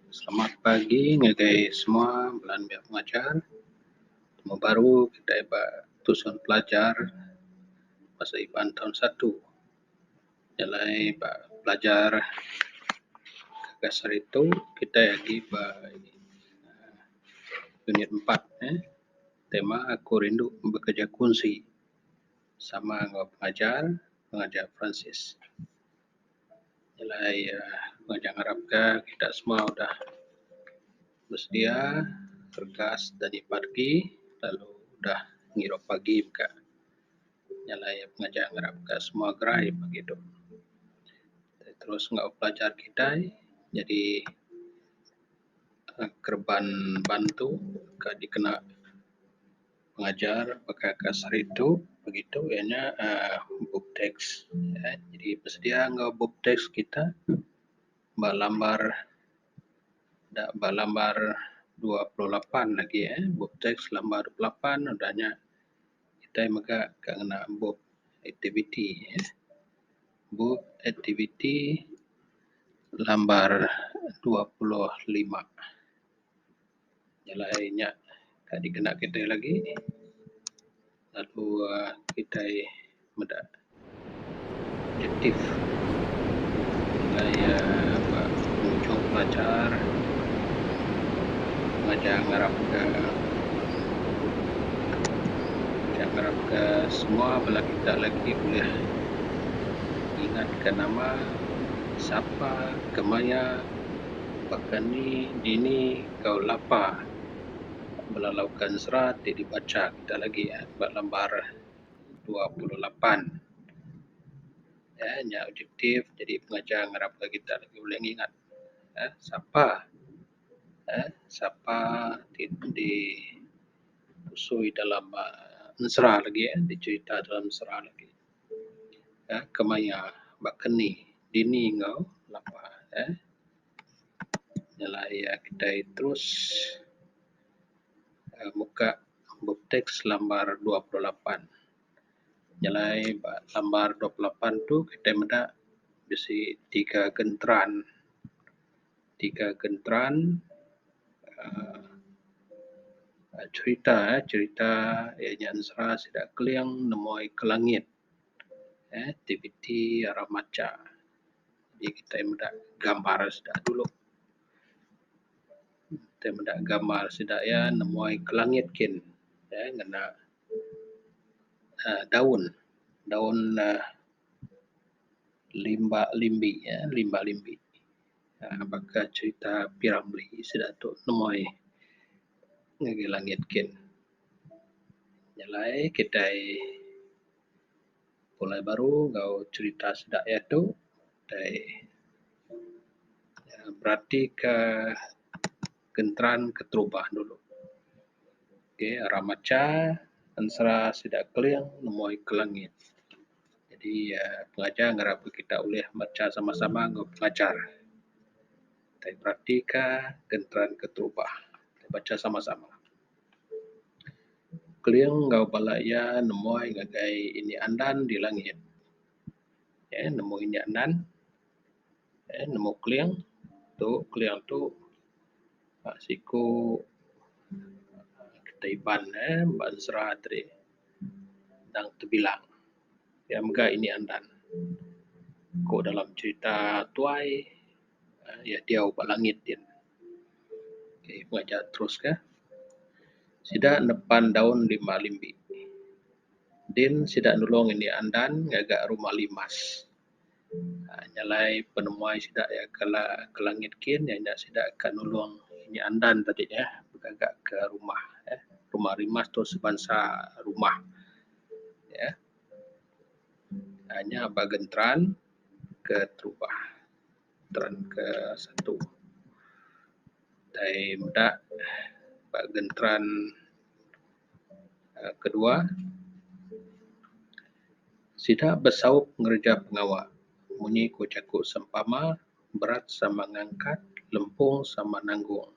Selamat pagi ngagai semua bala enda pengajar. Temu baru kitai ba tusun pelajar basa Iban taun satu. Nya alai ba pelajar ke seritu kitai agi ba unit empat eh tema Aku Rindu Bekeja Kunsi. sama enggau pengajar pengajar Peransis nyelai pengajar ngarap ka kita semua udah bersedia teregas dadi parti lalu udah ngirup pagi meka nyelai pengajar ngarap ka semua gerai pagi tu terus enggau pelajar kitai nyadi kereban bantu ka dikena Pengajar baka kas hari tu begitu iya nya uhh book tax uhh jadi besedia enggau book tax kita ba lambar da ba lambar dua puluh lapan lagi uhh book tax lambar dua puluh lapan udah nya kitai mega ka ngena book aktiviti uhh book aktiviti lambar dua puluh lima. jalai laie nya ka dikena kitai lagi lalu um kitai meda aktif jalai um ba mujok pelajar majak ngarap ka majak ngarap ka semua bala kita lagi ulih ngingat ka nama sapa kemaya Baka ni dini enggau lapa melalaukan serat ti dibacha kita lagi ba lembar dua puluh lapan nya objektif jadi pengajar ngarap ka kita lagi bulih ngingat uhh sapa uhh sapa ti dipusui dalam uhh ensera lagi dicherita dalam ensera lagi. um kemaya bakani dini enggau lepa um nyelai ia’ kitai terus um meka bup teks lambar dua puluh lapan. Nyelai ba lambar dua puluh lapan tu kitai meda bisi tiga genteran. tiga genteran um cherita um cherita iya nya nusra sida Keling nemoi ke langit um aktiviti rak macha ji kitai meda gambar sida dulu kitai meda gambar sida iya nemoi ke langit kin um ngena um daun daun um limba limbi um limba limbi. um baka cherita P. Ramlee sida tuk nemoi ngagai langit kin. Nyelai kitai pulai baru enggau cherita sida ia tuk tai um berati ka kenteran keterubah dulu. Ok, Ramacha ensera sida Keling nemoi ke langit. Jadi uhh pengajar ngarap ka kita ulih macha sama sama enggau pengajar. Kaii beratika kenteran keterubah. Bacha sama sama. Keling enggau bala iya nemuai ngagai indi andan di langit. Nemu indi andan. nemu keling tu keling tu ba siku kita Iban eh ba sera te ri tang tebilang iya mega ini andan ku dalam cerita tuai iya diau ba langit gin. Okey ku aja terus ka sida nepan daun lima limbi din sida nulong ini andan ngaga rumah limas. Nyalai penemuai sida iya ke ke langit kin iya nya sida ka nulong inya andan tadi eh ngaga ka rumah eh rumah rimah tu sebansa rumah eh aaa nya ba Gentran ke terubah Gentran ke satu tai meda ba Gentran. Kedua, sida besaup ngereja pengawa munyi ku jaku sempama berat sama ngangkat lempung sama nanggung.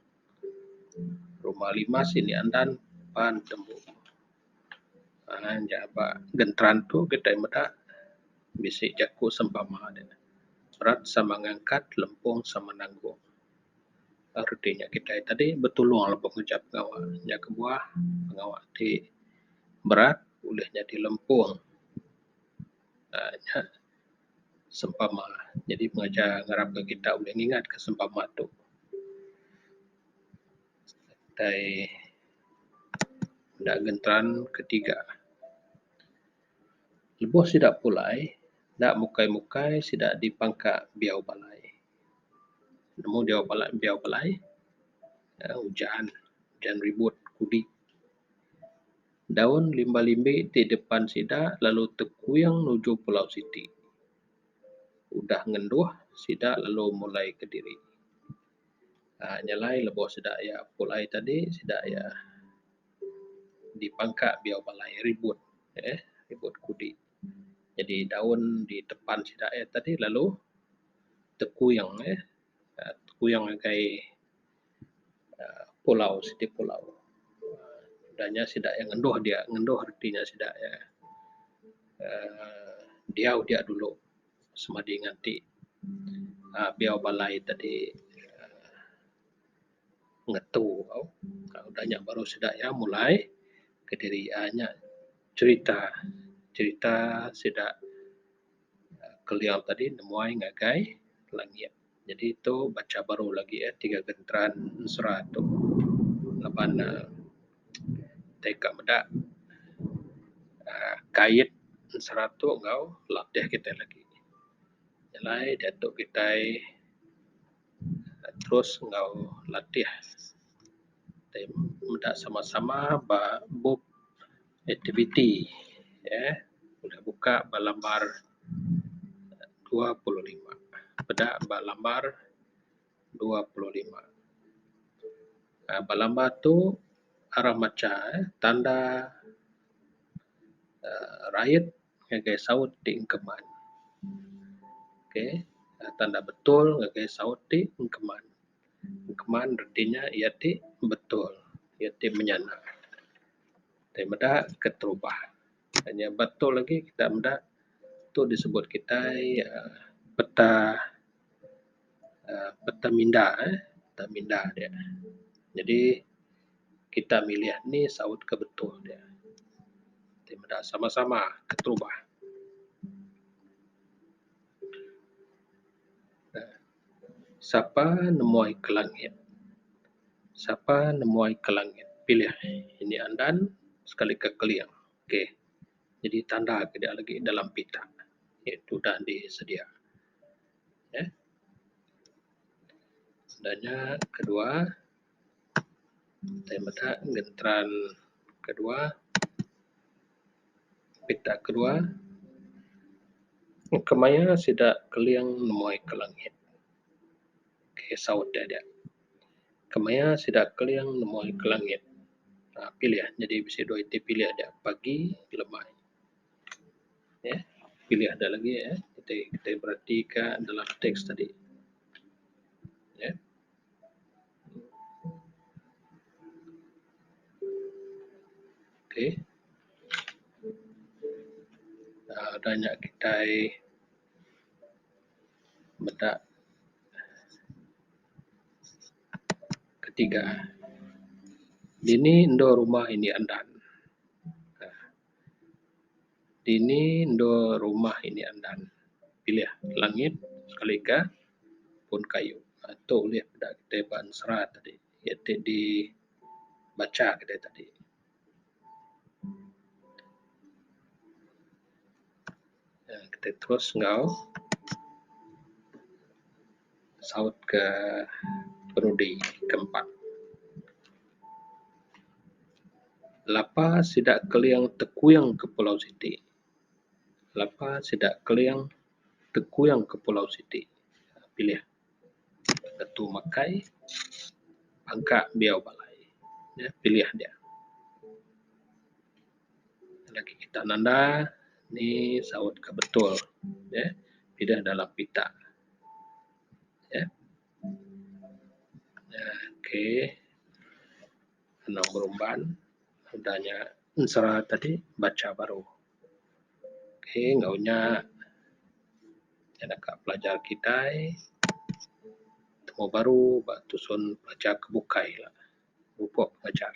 Rumah limas ini andan pan tembu uhh nya ba genteran tu kitai meda bisi jaku sempama deh berat sama ngangkat lempung sama nanggung. reti nya kitai tadi betulung lebuh nguncak pengawa nya kebuah pengawa ti berat bulih nyadi lempung uhh nya sempama nyadi pengereja ngarapka kitai ulih ngingatka sempama tu tai enda ngeteran ketiga lebuh sida pulai enda mukai mukai sida dipangka biau balai. nemu diau bala diau palai um ujan ujan ribut kudi daun limba limbi ti depan sida lalu tekuing nujung pulau siti udah ngenduh sida lalu mulai kediri um nyelai lebuh sida ia’ pulai tadi sida ia’ dipangka diau balai ribut um ribut kudi. Jadi daun di depan sida eh tadi lalu tekuyung eh tekuyung ngagai aaa pulau siti pulau udah nya sida eh ngendoh dia ngendoh reti nya sida eh aaa diau dia dulu semadi nganti aaa biau balai tadi aaa ngetu tau udah nya baru sida iya mulai kediri iya nya cherita cherita sida keliau tadi nemuai ngagai langit jadi tu banca baru lagi eh tiga genteran sera tu laban ne tai ka meda um kait sera tu enggau latih kitai lagi nyelai diatu kitai terus enggau latih tai meda sama sama ba bup aktiviti um buleh buka ba lambar dua puluh lima peda ba lambar dua puluh lima um ba lambar tu arang macha um tanda um rayat ngagai saut ti engkeman. Okay, tanda betul ngagai saut ti engkeman. Engkeman reti nya iya ti betul, iya ti menyana. Tai meda keterubah. Pak nya betul lagi kita meda, tu disebut kitai uhh peta. uhh peteminda uhh peteminda dia. Jadi kita milih anu saut ke betul dia. Ti meda sama sama keterubah uhh sapa nemoi ke langit sapa nemoi ke langit pilih indi andan sekali ka keling okay. Jadi tanda ke dia lagi dalam pita iaitu dandi sedia. Udah nya kedua tai meda ngeteran kedua pita kedua kemaya sida keling nemoi ka langit okay saut dia nya kemaya sida keling nemoi ka langit pilih nyadi bisi dua iti pilih dia pagi ngelemai. Ye pilih ada lagi eh kitai kitai bereti ka dalam teks tadi ye. Okay aaa ada nya kitai meda ketiga dini endur rumah indi andan. dini endur rumah ini andan pilih langit sekali ka pun kayu aaa tu ulih peda kita ba'an serat tadi yak ti di bacha kita tadi. Kita terus enggau. saut ke perudi ke empat. Lapa sida Keling tekuing ke pulau siti. Lapa sida Keling tekuing ke pulau siti. Pilih ngetu makai angka biau balai. Nya pilih dia. Lagi kita nanda ni saut ke betul. Pideh dalam pita. Nya ok anang berumban udah nya ensera tadi bacha baru ok enggau nya nya deka pelajar kitai tuuh baru ba tusun pelajar ke bukai la pupok pengajar.